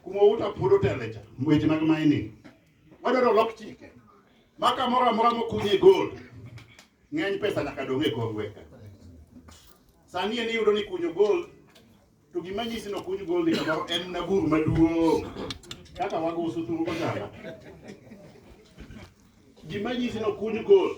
kuma uta puodho telecha weche mag mining wadwaro lok chike ma kamoro amora mokunye gold ng'eny pesa nyaka dong e kongweka sani en iyudo ni kunyo gold to gima nyisi ni okuny gold kamoro en na bur maduong' kaka wago uso thuru kojala gima nyisi ni okuny gold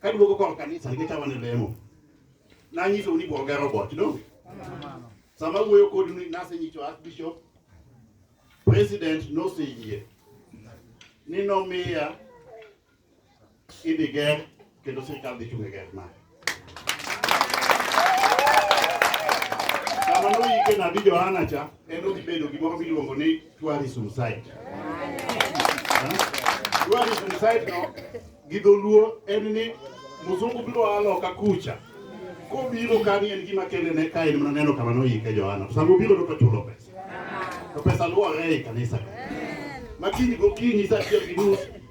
Kaduogo kor kanisa nikech awane lemo. Nanyiso ni bwoga robot, no? Sama wuoyo kodu ni nasenyiso Archbishop, President noseyie ni nomiya idhi ger kendo sirkal dhi chung' e ger mare. Sama noyike nabi Johana cha, en odhi bedo gimoro miluongo ni Tourism site. Tourism site no gi dholuo en ni mzungu biro a loka kucha kobiro kani en gima kende ne ka en mana neno kama noyike Johana to sama obiro to chulo pesa to pesa luwore e kanisa makiny gokinyi sa achiel gi nus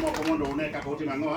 Moko mondo une kaka utimo ang'o?